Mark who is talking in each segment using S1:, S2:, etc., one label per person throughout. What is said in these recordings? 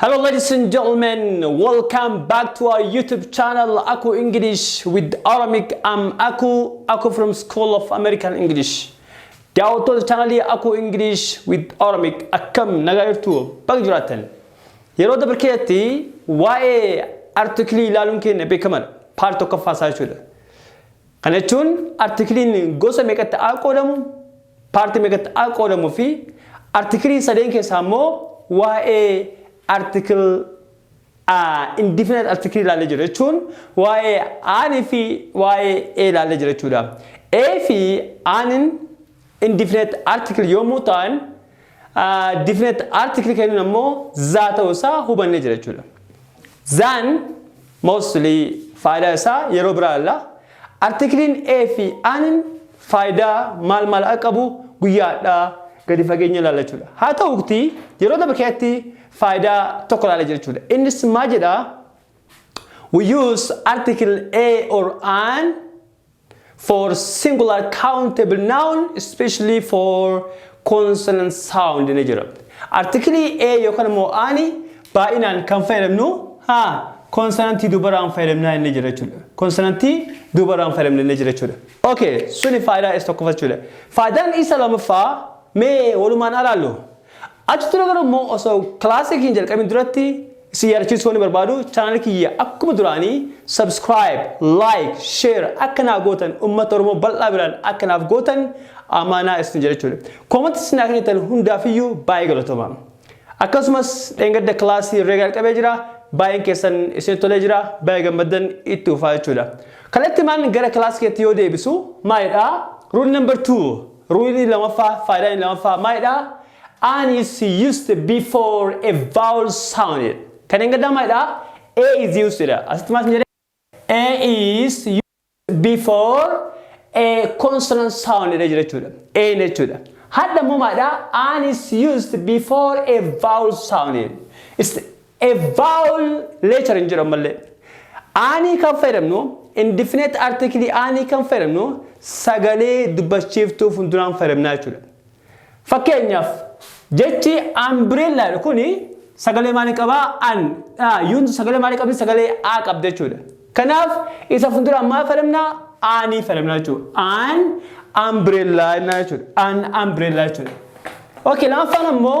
S1: Hello ladies and gentlemen, welcome back to our YouTube channel Aku English with Aramic. I'm Aku, Aku from School of American English. Daawwattoota chaanalii Aku English with Aramic akkam nagaa jirtu baga jiraattan. Yeroo dabre keessatti waa'ee artiklii ilaaluun keenya beekamadha. Paartii tokkoffaa isaa jechuudha. Kana jechuun artikiliin gosa meeqatti a qoodamu, paartii meeqatti a qoodamu fi artikilii sadeen keessaa immoo waa'ee article a indefinite article ilaallee jira jechuun waa'ee aan fi waa'ee a ilaallee jira jechuudha. A fi aanin Indefinite article yommuu ta'an definite article kennuun ammoo zaa ta'uu isaa hubanne jira jechuudha. Zaan mostly faayidaa isaa yeroo biraa ilaalla. Artikiliin A fi An faayidaa maal maal akka qabu guyyaa hadhaa gadi fageenya ilaalla jechuudha. Haa ta'uutti yeroo darbe keessatti faayidaa tokko ilaalla jira jechuudha. Innis maal jedhaa? We use article A or an for singular countable noun especially for consonant sound ni jira. Artikilii A yookaan immoo aani baay'inaan kan fayyadamnu haa konsonantii dubaraan fayyadamnaa inni jira jechuudha. Konsonantii dubaraan fayyadamna inni jira jechuudha. Okay, suni faayidaa isa tokkoffaa jechuudha. Faayidaan isa lamaffaa mee walumaan alaallu. Achi ture garuu immoo osoo classic hin jalqabin duratti isin yaadachiisuu wanni barbaadu channel kiyya akkuma duraanii subscribe, like, share akka naa gootan ummata Oromoo bal'aa biraan akka naaf gootan amaanaa isin jedha jechuudha. Comment isin naa kennitan hundaafiyyuu baay'ee galatoomaa. Akkasumas dheengadda class reega jalqabee jira baay'een keessan isin tolee jira baay'ee gammaddan itti fufaa jechuudha. Kallattimaan gara class keetti yoo deebisu maalidha? Rule number 2. Ruulii lamaffaa, faayidaa inni lamaffaa maalidha? An is used before a vowel sound jedha. Kan engaddaa maalidha? A is used jedha. Asitti maal isin jedhe? A is used before a consonant sound jedha jira jechuudha. A hin jechuudha. Hadha immoo maalidha? An is used before a vowel sound jedha. A vowel letter hin jiru ammallee. Aanii kan fayyadamnu indefinite article aanii kan fayyadamnu sagalee dubbachiiftuu fuulduraan fayyadamnaa jechuudha. Fakkeenyaaf jechi umbrella jedhu kun sagalee maalii qabaa? An. Yuun sagalee maalii qabdi? Sagalee A qabdi jechuudha. Kanaaf isa fuulduraan maal fayyadamnaa? Aanii fayyadamnaa jechuudha. An umbrella jennaa jechuudha. An umbrella jechuudha. Okay, lammaffaan ammoo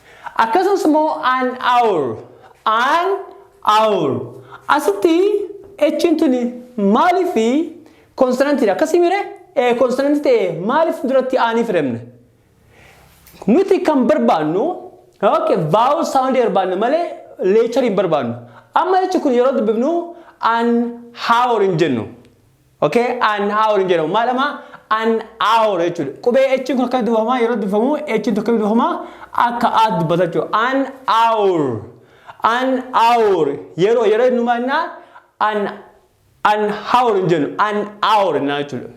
S1: Akkasumas immoo an hour, an hour. Asitti H'n tuni maaliif konsonantiidha? Akkasii mire ee konsonantii ta'e maaliif duratti aanii filamne? Nuti kan barbaannu okay, vowel sound barbaanna malee leechariin barbaannu. Amma jechi kun yeroo dubbifnu an hour hin jennu. Okay an hour hin jedhamu maal ama an hour jechuudha qubee h kun akka dubbifama yeroo dubbifamu h kun akka dubbifama akka a dubbata jechuudha an hour an hour yeroo yeroo inni maal naa an an hour hin jennu an hour hin naa jechuudha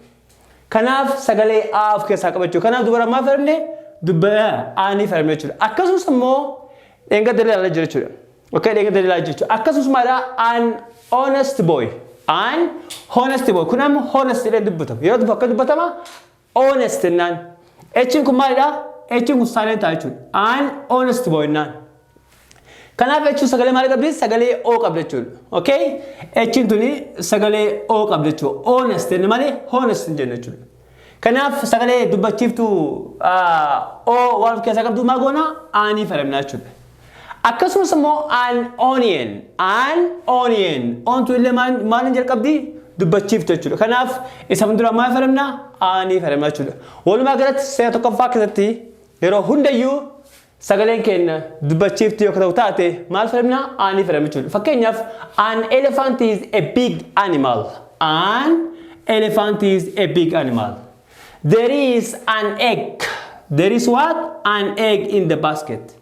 S1: kanaaf sagalee a of keessaa qaba jechuudha kanaaf dubara maal fayyadamne dubba aanii fayyadamne jechuudha akkasumas immoo dheengadda ilaalee jira jechuudha Okay, dhaggeeffattoota ilaalaa jirtu. Akkasumas mala an honest boy. An honest boy. Kun amma honest jedhee dubbatama. Yeroo tokko akka dubbatama honest jennaan. Echiin kun maalidha? Echiin kun silent ta'a jechuudha. An honest boy jennaan. Kanaaf jechuun sagalee maal qabdi? Sagalee O qabdi jechuudha. Okay? Echiin tuni sagalee O qabdi jechuudha. Honest jenne malee honest hin jenne jechuudha. Kanaaf sagalee dubbachiiftuu a, o waan of keessaa qabdu maa goona aanii fayyadamna jechuudha. Akkasumas immoo an onion, an onion, ontu illee maal- maaliin jalqabdi dubbachiiftu jechuudha. Kanaaf isa fuulduraa maal fayyadamna aanii fayyadamna jechuudha. Walumaa galatti seera tokkoffaa keessatti yeroo hundayyuu Sagaleen keenya dubbachiiftuu yoo ta'u taate maal fayyadamna? Aanii fayyadamna jechuudha. Fakkeenyaaf an elephant is a big animal. An elephant is a big animal. There is an egg. There is what? An egg in the basket.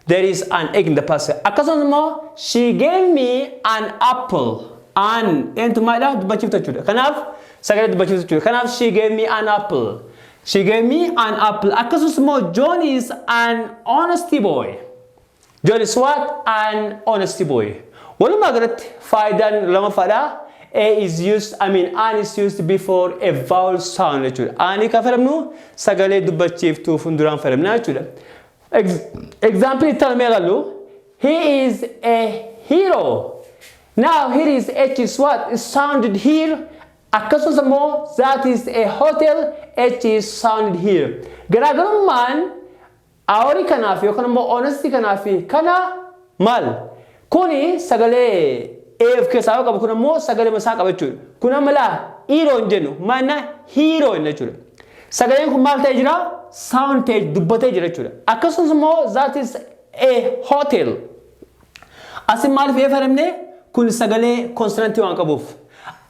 S1: There is an egg in the basket. Akkasumas immoo she gave me an apple. An eentu maalidha? Dubbachiiftuu jechuudha. Kanaaf sagalee dubbachiiftuu jechuudha. Kanaaf she gave me an apple. She gave me an apple. Akkasumas immoo John is an honesty boy. John is what? An honesty boy. Walumaa galatti faayidaan lamaffaadha. A is used, I mean an is used before a vowel sound jechuudha. Ani kan fayyadamnu sagalee dubbachiiftuu fuulduraan fayyadamna jechuudha. Ex- Example itti aanamee ilaallu. He is a hero. Now here is H is what? It sounded here Akkasumas ammoo that is a hotel H is sounded here. Garaagarummaan aori kanaafi yookaan ammoo honesty kanaafi kana maal? Kuni sagalee A of keessaa yoo qabu kun ammoo sagalema isaa qaba jechuudha. Kun amma laa iiroo hin jennu maal jenna hiiroo jenna jechuudha. Sagaleen kun maal ta'ee jira? Sound ta'ee dubbatee jira jechuudha. Akkasumas ammoo that is a hotel. Asin maalif F aremne kun sagalee konsonantii waan qabuuf.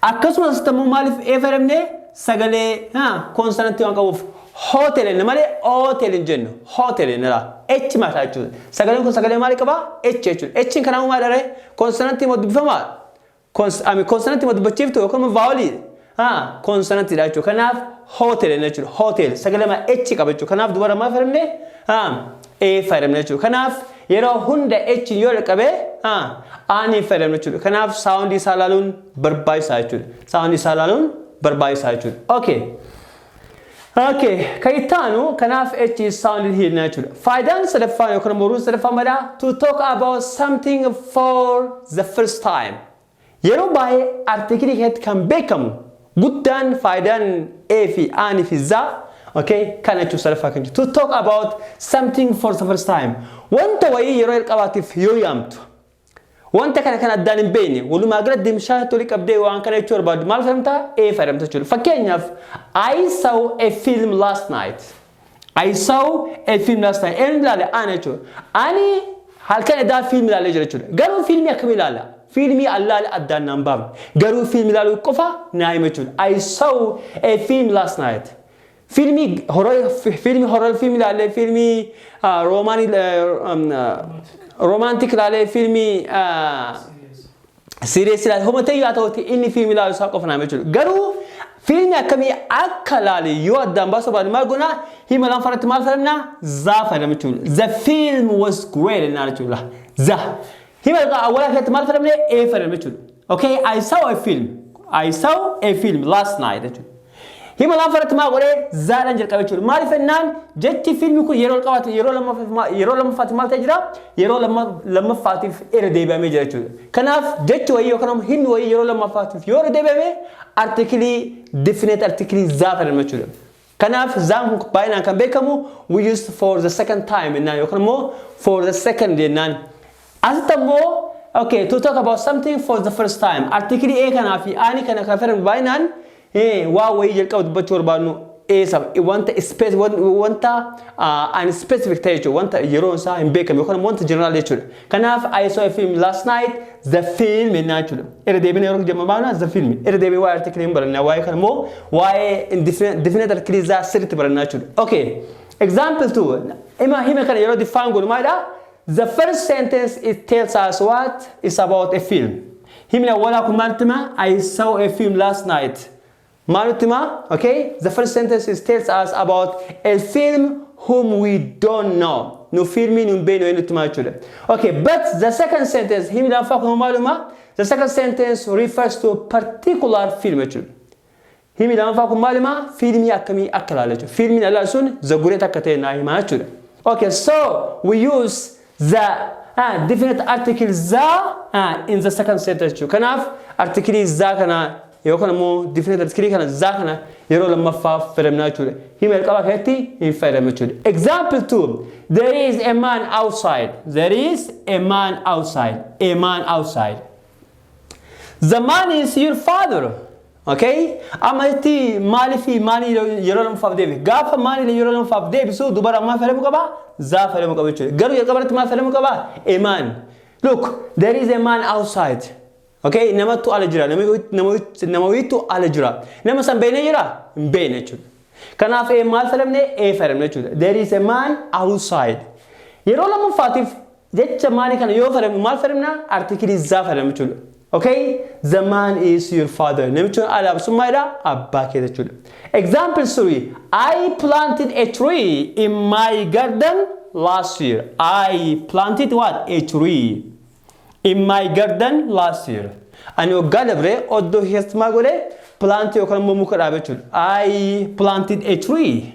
S1: Akkasumas asitti ammoo maalif F aremne sagalee ha konsonantii waan qabuuf. Hotel inni malee hotel hin jennu. Hotel inni dha. H mataa jechuudha. Sagaleen kun sagalee maali qabaa? H jechuudha. H kanaa maal dharee? Konsonantii moo dubbifamaa? Kons, ami konsonantii ma dubbachiiftu yookaan immoo vaawolii? Haa, konsonantiidha jechuudha. Kanaaf hotel jenna jechuudha. Hotel sagalee ma H qaba jechuudha. Kanaaf dubara maal fayyadamne? Haa, A fayyadamne jechuudha. Kanaaf yeroo hunda H yoo dhaqqabe haa, Aan hin fayyadamne jechuudha. Kanaaf saawundii isaa ilaaluun barbaachisaa jechuudha. Saawundii isaa ilaaluun barbaachisaa jechuudha. Okay. Okay, kan itti aanu kanaaf H is sounded here na jechuudha. Faayidaan sadaffaan yookaan immoo ruun sadaffaan mala to talk about something for the first time. Yeroo baay'ee artikilii keessatti kan beekamu guddaan faayidaan A fi Aan fi Z okay, kana jechuun sadaffaa kan jechuudha. To talk about something for the first time. Wanta wayii yeroo jalqabaatiif yoo yaamtu. Wanta kana kan addaan hin beekne walumaa gala dimshaashatti walitti qabdee waan kana jechuu barbaaddu maal fayyadamtaa? A fayyadamta jechuudha. Fakkeenyaaf I saw a film last night. I saw a film last night. Eenyu ilaale? Ana jechuudha. Ani halkan edaa fiilmi ilaalee jira jechuudha. Garuu fiilmii akkamii ilaala? Fiilmii allaale addaan naan baafne. Garuu fiilmi ilaaluu qofa naa hima jechuudha. I saw a film last night. Fiilmii horor fiilmii horor fiilmii ilaalle fiilmii roomaanii roomaantik ilaalle fiilmii siiriyees ilaalle homa ta'e yaa ta'utti inni fiilmii ilaalu isaa qofa naaf jechuudha. Garuu fiilmii akkamii akka ilaale yoo addaan baasuu baadne maal goona hima lama faratti maal fayyadamna zaa fayyadamna jechuudha. The film was great jennaan jechuudha. Za Hima ergaa awwalaa keessatti maal fayyadamne? A fayyadamne jechuudha. Okay, I saw a film. I saw a film last night jechuudha. Hima lafa irratti maal godhee zaadhaan jalqabe jechuudha. Maaliif jennaan jechi fiilmi kun yeroo jalqabaati yeroo lammaffaaf ma- yeroo lammaffaatiif maal ta'e jira? Yeroo lamma- lammaffaatiif irra deebi'amee jira jechuudha. Kanaaf jechi wayii yookaan immoo himni wayii yeroo lammaffaatiif yoo irra deebi'ame artikilii definite artikilii zaa fayyadamna jechuudha. Kanaaf Zaamhuk baay'inaan kan beekamu we used for the second time jennaan yookaan immoo for the second jennaan. Asitti ammoo okay to talk about something for the first time artiikilii A kanaa fi aanii kana kan fayyadamu baay'inaan waa wayii jalqaba dubbachuu barbaadnu eessa wanta space wanta unspecific ta'e jechuudha wanta yeroon isaa hin beekamne yookaan wanta general jechuudha. Kanaaf I saw a film last night the film ennaa jechuudha. Irra deebina yeroo jemma baana the film. Irra deebiin waa'ee article hin barannaa waa'ee kana immoo waa'ee definite article isaa sirriitti barannaa jechuudha. Okay. Example two. Ima hima kana yeroo define godhu maalidha? The first sentence it tells us what is about a film. Himni awwalaa kun maaltti hima? I saw a film last night. Maa nutti himaa ok the first sentence is tells us about a film whom we don't know nu fiilmii nu hin beekne wayii nutti himaa jechuudha ok but the second sentence himi lammaffaa kun maaluma the second sentence refers to particular film jechuudha himi lammaffaa kun maaluma fiilmii akkamii akka ilaala jechuudha fiilmiin alaa sun the great akka ta'e naa himaa jechuudha ok so we use the ah, definite article the ah, in the second set jechuudha. Kanaaf artikilii the kana yookaan immoo definite artikilii kana the kana yeroo lammaffaaf fayyadamna jechuudha. Hima jalqabaa keessatti hin fayyadamnu jechuudha. Example 2 There is a man outside. There is a man outside. A man outside. The man is your father. Okay? Amma itti maalifi maali yeroo lamaffaaf deebi? Gaafa maali yeroo lamaffaaf deebisu dubara maal fayyadamu qaba? Zaa fayyadamu qaba jechuudha. Garuu jalqaba irratti maal fayyadamu qaba? A man. Look, there is a man outside. Okay? Namattu ala jira. Namawiittu ala jira. Nama san beekne jira? Hin beekne jechuudha. Kanaaf A maal fayyadamne? A fayyadamne jechuudha. There is a man outside. Yeroo lammaffaatiif Jecha maalii kana yoo fayyadamnu maal fayyadamna? Artiikilii isaa fayyadamna jechuudha. Okay? The man is your father. Namichi kun haadha sun maalidha? Abbaa keeti jechuudha. Example 3. I planted a tree in my garden last year. I planted what? A tree in my garden last year. Ani waggaa dabree oddoo keessatti maal godhe? Plant yookaan immoo muka dhaabe jechuudha. I planted a tree.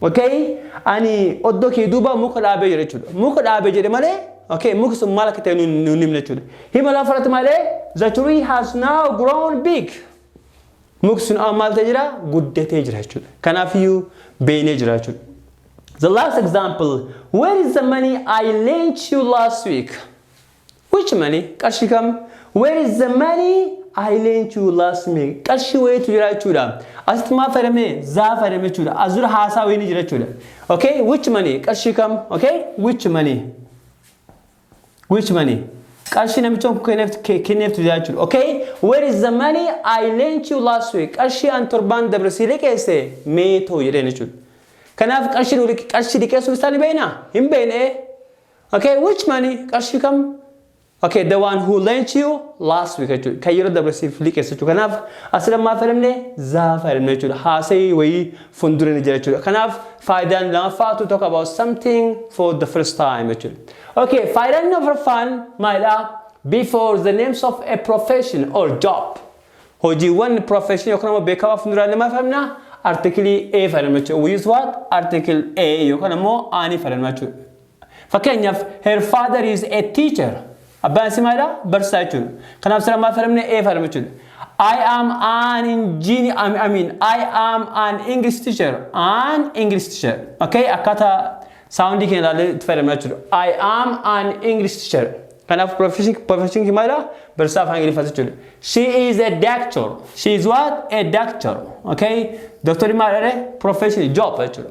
S1: Okay ani oddo kee duuba muka dhaabee jira jechuudha. Muka dhaabee jedhe malee okay muki sun maal akka ta'e nu nu hin himne jechuudha. Hima lafa irratti malee the tree has now grown big. Muki sun amma maal ta'e jira guddatee jira jechuudha. Kanaafiyyuu beeynee jira jechuudha. The last example where is the money I lent you last week? Which money? Qarshii kam? Where is the money I lent you last me? Qarshii wayiitu jira jechuudha. Asitti maal fayyadamne? Zaa fayyadamne jechuudha. As dura haasaa wayii ni jira jechuudha. Okay? Which money? Qarshii kam? Okay? Which money? Which money? Qarshii namichoon kun kenneeftu ke- kenneeftu jira jechuudha. Okay? Where is the money I lent you last week? Qarshii an torbaan dabre si liqeesse mee too jedheen jechuudha. Kanaaf qarshii nu liqe- qarshii liqeessuun isaa ni beekna? Hin beekne. Okay, which money? Qarshii kam? Okay, the one who lent you last week jechuudha. Kan yeroo dabre siif liqeesse jechuudha. Kanaaf asirra maal fayyadamne? Zaa fayyadamne jechuudha. Haasa'ii wayii fuuldura ni jira jechuudha. Kanaaf faayidaan lamaffaa to talk about something for the first time jechuudha. Okay, faayidaan inni afraffaan maalidha? Before the names of a profession or job. Hojiiwwan profession yookaan immoo beekamaa fuulduraan ni maal fayyadamna? Article A fayyadamna jechuudha. We use what? Article A yookaan immoo A ni fayyadamna jechuudha. Fakkeenyaaf, Her father is a teacher. Abbaan isii maalidha? Barsiisaa jechuudha. Kanaaf sila maal fayyadamne? A fayyadamne jechuudha. I am an engineer, I I mean, I am an English teacher. An English teacher. Okay? Akkaataa saawundii keenya ilaallee itti fayyadamna jechuudha. I am an English teacher. Kanaaf profession profession kee maalidha? Barsiisaa afaan Ingiliffaa jechuudha. She is a doctor. She is what? A doctor. Okay? Doktorri maalidha? Profession job jechuudha.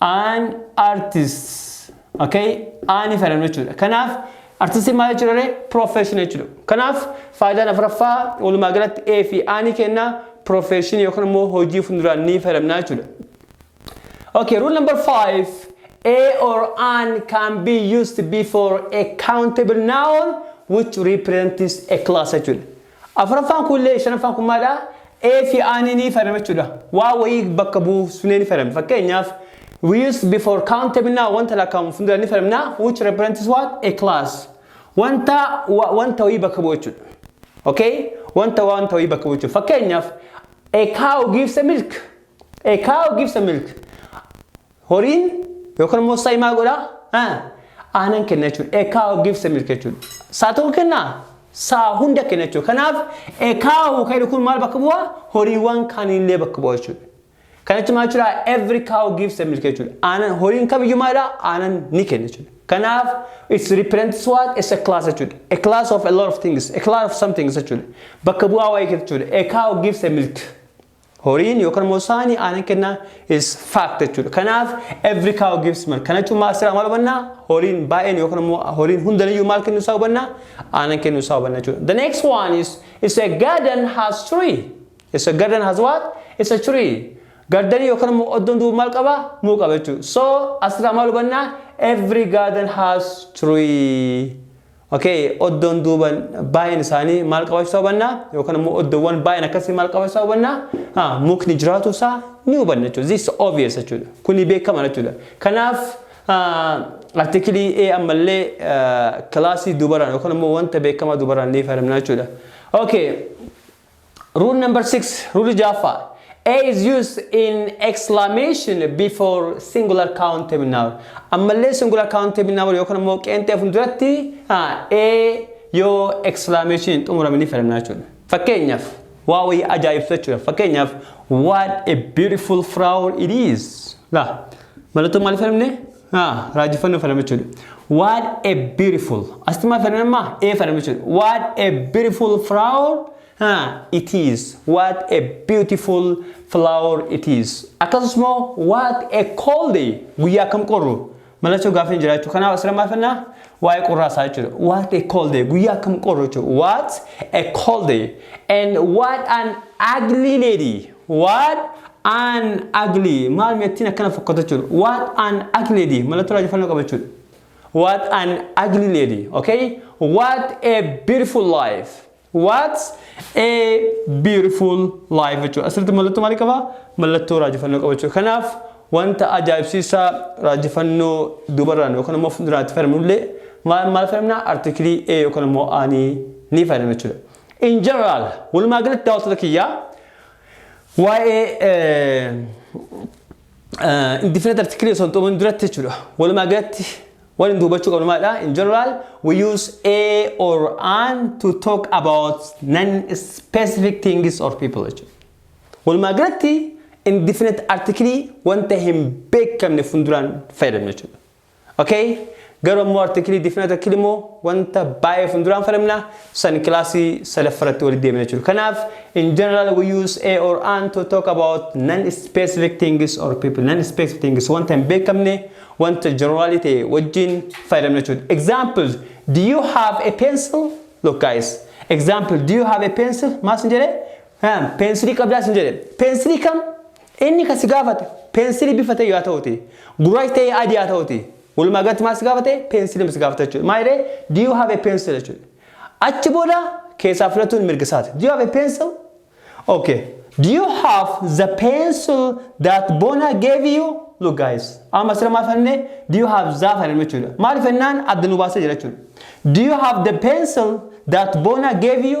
S1: An artist. Okay? Ani fayyadamnu jechuudha. Kanaaf artistiin maal jechuudha ree? Profession jechuudha. Kanaaf faayidaan afuraffaa walumaa galatti A fi A ni kenna profession yookaan immoo hojii fuulduraan ni fayyadamna jechuudha. Okay, rule number five. A or an can be used before a countable noun which represents a class jechuudha. Afuraffaan kun illee shanaffaan kun maalidha? A fi A ni ni fayyadama jechuudha. Waa wayii bakka buufnee ni fayyadamna. Fakkeenyaaf we use before countable noun wanta lakkaa'amu fuuldura ni fayyadamna which represents what? A class. Wanta wa- wanta wayii bakka bu'u jechuudha. Okay? Wanta wanta wayii bakka bu'u jechuudha. Fakkeenyaaf a cow gives a milk. A cow gives a milk. Horiin yookaan immoo sa'i maal godha? Aanan kenna jechuudha. A cow gives milk jechuudha. Sa'a tokko kenna? Sa'a hunda kenna jechuudha. Kanaaf a cow kan jedhu kun maal bakka bu'a? Horiiwwan kaanillee bakka bu'a jechuudha. Kana jechuun maal jechuudha? Every cow gives milk jechuudha. Aanan horiin kamiyyuu maalidha? Aanan ni kenna jechuudha. Kanaaf it represents what? It's a class jechuudha. A class of a lot of things. A class of something jechuudha. Bakka bu'aa waa'ee keessa jechuudha. A cow gives a milk. Horiin yookaan immoo saani aanan kennaa is fact jechuudha. Kanaaf every cow gives milk. Kana jechuun maal sirraa maal hubannaa? Horiin baay'een yookaan immoo horiin hundaniyyuu maal kennuu isaa hubannaa? Aanan kennuu isaa hubanna jechuudha. The next one is it's a garden has tree. It's a garden has what? It's a tree. Gardanii yookaan immoo oddoon duuba maal qaba? Muu qaba jechuudha. So asirraa maal hubannaa? Every garden has tree. Okay, oddoon duuba baay'een isaanii maal qabaachuu isaa hubanna yookaan immoo oddoowwan baay'een akkasii maal qabaachuu isaa hubanna ah, mukni jiraatu isaa ni hubanna jechuudha. This is obvious jechuudha. Kuni beekamadha jechuudha. Kanaaf ah, artikilii A ammallee ah, kilaasii dubaraan yookaan immoo wanta beekamaa dubaraan ni fayyadamna jechuudha. Okay, Rule number 6, Rule jaaffaa. A is used in exclamation before singular countable noun. Ammallee singular countable noun yookaan immoo qeenxee fuulduratti A yoo exclamation hin xumurame ni fayyadamna jechuudha. Fakkeenyaaf waa wayii ajaa'ibsu jechuudha. Fakkeenyaaf what a beautiful flower it is. Laa mallattoo maaliif fayyadamne? Ah, raajifannoo fedhama jechuudha. What a beautiful. Asitti maal fedhan amma? Ee fedhama jechuudha. What a beautiful flower ah, it is. What a beautiful flower it is. Akkasumas immoo what a cold day. Guyyaa akkam qorru. Mallattoo gaaffii hin jiraachuu. Kanaaf asirra maal fedhna? Waa'ee qorraa isaa jechuudha. What a cold day. Guyyaa akkam qorru jechuudha. What a cold day. And what an ugly lady. What an ugly maal meettiin akkana fokkata jechuudha. What an ugly lady mallattoo raajeffannoo qaba jechuudha. What an ugly lady okay. What a beautiful life. What a beautiful life jechuudha. Asirratti mallattoo maalii qaba? Mallattoo raajeffannoo qaba jechuudha. Kanaaf wanta ajaa'ibsiisaa raajeffannoo dubarraan yookaan immoo fuulduraatti fayyadamnullee maal maal fayyadamna? Artikilii A yookaan immoo A ni fayyadamna jechuudha. in general walumaa galatti daawwattoota kiyyaa waa'ee indefinite article osoo hin xumurin duratti jechuudha walumaa galatti waan hin dubbachuu qabnu maalidha in general we use a or an to talk about non specific things or people jechuudha walumaa galatti indefinite article wanta hin beekamne fuulduraan fayyadamna jechuudha Okay garuu ammoo article fi article immoo wanta baay'ee funduraan falamna san kilaasii sadaffaa irratti walitti deemna jechuudha. Kanaaf in general we use a or an to talk about non-specific things or people. Non-specific things wanta hin beekamne wanta generalii ta'e wajjin fayyadamna jechuudha. Example, do you have a pencil? Look guys, example, do you have a pencil? Maal sin jedhe? Peensilii qabdaa sin jedhe. Peensilii kam? Inni kan si gaafate peensilii bifa ta'e haa ta'uti, gurraachi ta'e adii haa ta'uti, walumaa galatti maal si gaafate peensilii si gaafata jechuudha. Maal jedhee do you have a pencil jechuudha. Achi booda keessaa filatuun mirga isaati. Do you have a pencil? Okay. Do you have the pencil that Bona gave you? Look guys, amma sira maal fanne do you have the fanne jechuudha. Maal fannaan adda nu baasee jira jechuudha. Do you have the pencil that Bona gave you?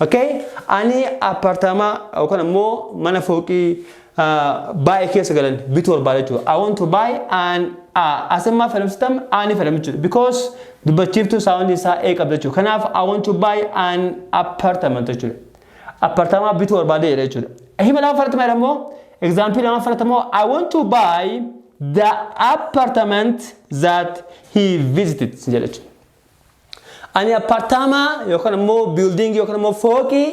S1: Okay? Ani appartaamaa yookaan ammoo mana fooqii baay'ee keessa galan bituu barbaada jechuudha. I want to buy an asemmaa fayyadamsitam ani fayyadamu jechuudha. Because dubbachiiftuu saawundi isaa ee qabda jechuudha. Kanaaf I want to buy an appartament jechuudha. Appartaamaa bituu barbaada jedha jechuudha. Hima lama fudhatama jedha immoo example lama fudhatama immoo I want to buy the appartament that he visited jedha jechuudha. Ani appaartaamaa yookaan immoo biildiingii yookaan immoo fooqii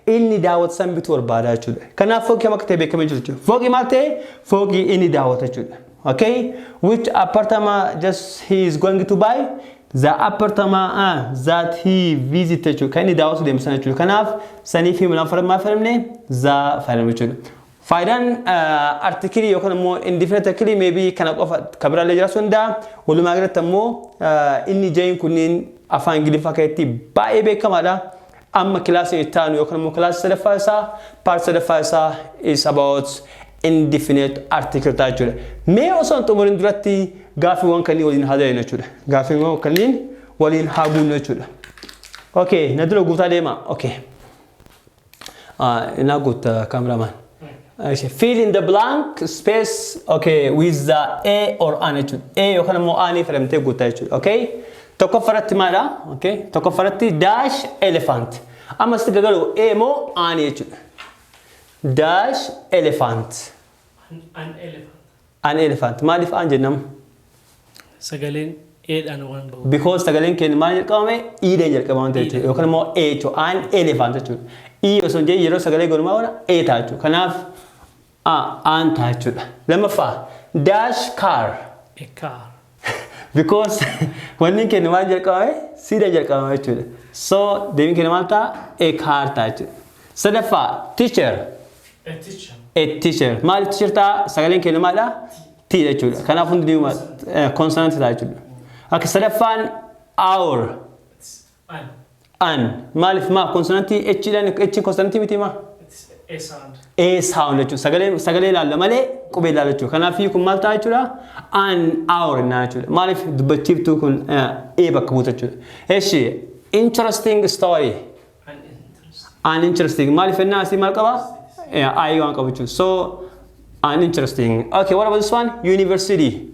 S1: inni daawwatu san bituu barbaada jechuudha. Kanaaf fooqii kam akka ta'e beekamee jiru jechuudha. Fooqii maal ta'e? Fooqii inni daawwatu jechuudha. Okay? Which appartama just he is going to buy? The appartama uh, that he visit jechuudha. Kan inni daawwatu deemu sana jechuudha. Kanaaf saniif hima lafa maal fayyadamne? Za fayyadamne jechuudha. Faayidaan artikilii yookaan immoo indefinite artikilii maybe kana qofa kan biraallee jiraachuu danda'a. Walumaa galatti ammoo inni ja'iin kunniin afaan Ingiliffaa keessatti baay'ee beekamaadha. Amma kilaasii itti aanu yookaan immoo kilaasii sadaffaa isaa paartii sadaffaa isaa is about indefinite article ta'a jechuudha. Mee osoo hin xumurin duratti gaaffiiwwan kanneen waliin haa dalinu jechuudha. Gaaffiiwwan kanneen waliin haa guunnu jechuudha. Okay, na dura guutaa deemaa. Okay. Inaa guutta camera man. Fill in the blank space okay with the A or an jechuudha. A yookaan immoo aanee fayyadamtee guuttaa jechuudha. Okay? Tokkoffaa irratti maalidha? Okay? Tokkoffaa irratti dash elephant. Amma sitti gagalu A moo aanee jechuudha. Dash elephant. An
S2: elephant. An elephant.
S1: Maaliif an jennam? Sagaleen
S2: A dhaan waan ba'uuf. Because sagaleen keenya maal
S1: jalqabame? E dhaan jalqaba waan ta'eef jechuudha. Yookaan immoo A jechuudha. An elephant jechuudha. E osoo hin jedhin yeroo sagalee goonu maal goona? A ta'a jechuudha. Kanaaf A an ta'a jechuudha. Lammaffaa dash car. A car.
S2: because
S1: wanni keenya maal jalqabame siidha jalqabame jechuudha so deebiin keenya maal ta'a e kaartaa jechuudha sadaffaa teacher A teacher.
S2: e teacher maal
S1: teacher ta'a sagaleen keenya maal ta'a t jechuudha kanaaf hundi deebiin consonant ta'a jechuudha akka sadaffaan hour
S2: An. An.
S1: Maaliif maa konsonantii H dhaan H konsonantii miti maa?
S2: It's a sound. A sound jechuudha.
S1: Sagalee sagalee ilaalla malee qubee ilaalla jechuudha. Kanaaf kun maal ta'a jechuudha? An hour naa jechuudha. Maaliif dubbachiiftuu kun eh, A bakka buuta jechuudha. Eshi interesting story. An interest. An interesting. Maaliif ennaa asii maal qaba? Eh, I waan qabu jechuudha. So An interesting. Okay, what about this one? University.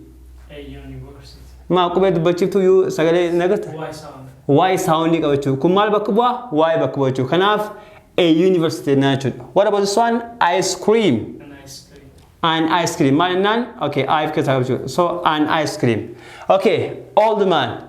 S1: A university.
S2: Maa qubee
S1: dubbachiiftuu yuu sagalee hin agarta? Why sound?
S2: Waa'ee saawundii
S1: qabachuu. Kun maal bakka bu'aa? Waa'ee bakka bu'aa jechuudha. Kanaaf a university jennaan jechuudha. What about this one? Ice cream. An ice cream.
S2: An ice cream.
S1: Maal jennaan? Okay, I of keessaa qabachuu. So, an ice cream. Okay, old man.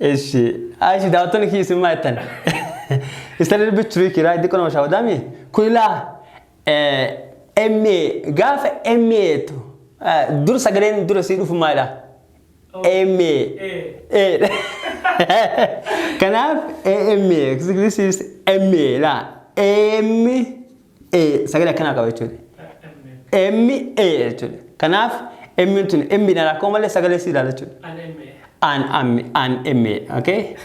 S1: Eshi. Aishi daawwattoonni kiyya isin maa jettan? It's a little bit tricky, right? Xiqqoo nama shaawadaa mi? Kun ilaa eh, MA gaafa MA jettu eh, dur sagaleen dura sii dhufu maalidha? MA. Eh. Kanaaf AMA. This is MA laa. AM A sagalee akkanaa qaba jechuudha. M A jechuudha. Kanaaf M tun M dhaan rakkoo malee sagalee si ilaala jechuudha. An M an M A okay.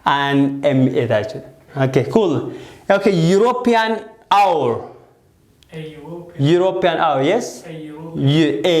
S1: An M A ta'a jechuudha. Okay cool. Okay European hour.
S2: European
S1: hour yes. U
S2: A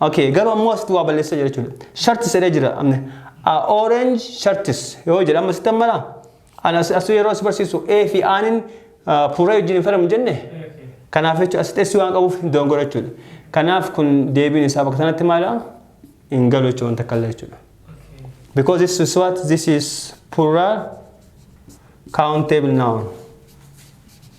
S1: Okay, garuu ammoo asitti waa balleessa jira jechuudha. Shirts jedhee jira. Amne. A orange shirts yoo jedha amma sitti ammana. Ana as- asuu yeroo si barsiisu A fi Aaniin puree wajjin hin falamu jenne. Kanaaf jechuudha asitti S waan qabuuf hin doongora jechuudha. Kanaaf kun deebiin isaa bakka sanatti maala? Hin galu jechuudha wanta kallee jechuudha. Because this is what? This is plural countable noun.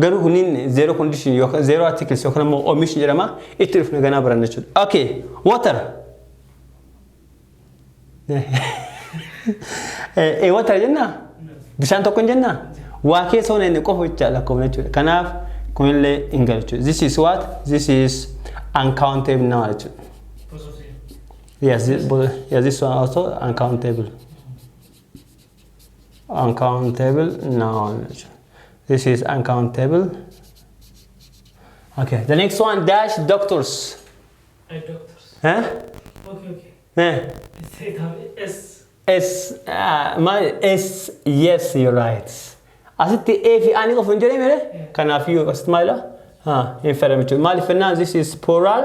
S1: Garuu kunniin zero condition yookaan zero articles yookaan immoo omission jedhama itti dhufna ganaa baranna jechuudha. Okay, water. Ee water jennaa? Bishaan tokko hin jennaa? Waa keessa hona inni qofa jecha lakkoofna jechuudha. Kanaaf kunillee hin galu jechuudha. This is what? This is uncountable number jechuudha. Yes, this, yes, this one also uncountable. uncountable noun this is uncountable okay the next one dash doctors Ay, doctors. huh? Okay,
S2: okay. huh? Say it
S1: out. S. S, uh, my S, yes, you're right. Asitti A fi A ni qofa hin jedhee mere? Kanaaf iyyuu asitti maalidha? Ha, hin fayyadamu jechuudha. Maaliif jennaan this is plural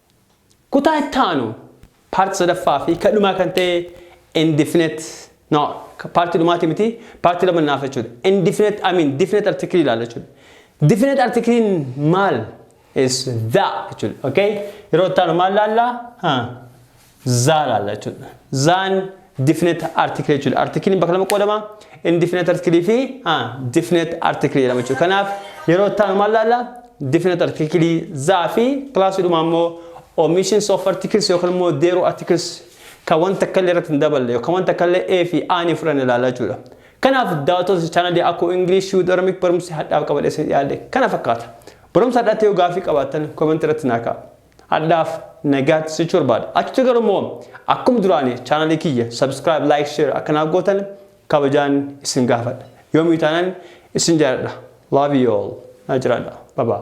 S1: Kutaa itti aanu, part sadaffaa fi ka dhumaa kan ta'e indefinite, no, ka part dhumaati miti, part lama naaf jechuudha. Indefinite, I mean, definite article ilaalla jechuudha. Definite article maal? Is the jechuudha. Okay? Yeroo itti aanu maal laalla? Ha. zaa laalla jechuudha. Zaan definite article jechuudha. Artikiliin bakka lama qoodama. Indefinite article fi definite article jedhama jechuudha. Kanaaf yeroo taanu maal laalla? Definite article zaa fi kilaasiidhuma ammoo omissions of articles yookaan immoo deeroo articles kan wanta akka illee irratti hin daballe yookaan wanta akka illee A fi A ni fudhanne laalla jechuudha. Kanaaf daawwattoota chaanalii akkoo English with Oromik barumsi hadhaaf qabadhee isin dhiyaadhe kana fakkaata. Barumsa hadhaatti yoo gaafii qabaattan koomentii irratti naa kaa'a. Hadhaaf nagaatti sichuu barbaada. Achitti garuu immoo akkuma duraanii chaanalii kiyya subscribe, like, share akka naaf gootan kabajaan isin gaafadha. Yoomii taanan isin jaaladha. Love you all. Na jiraadha. Bye bye.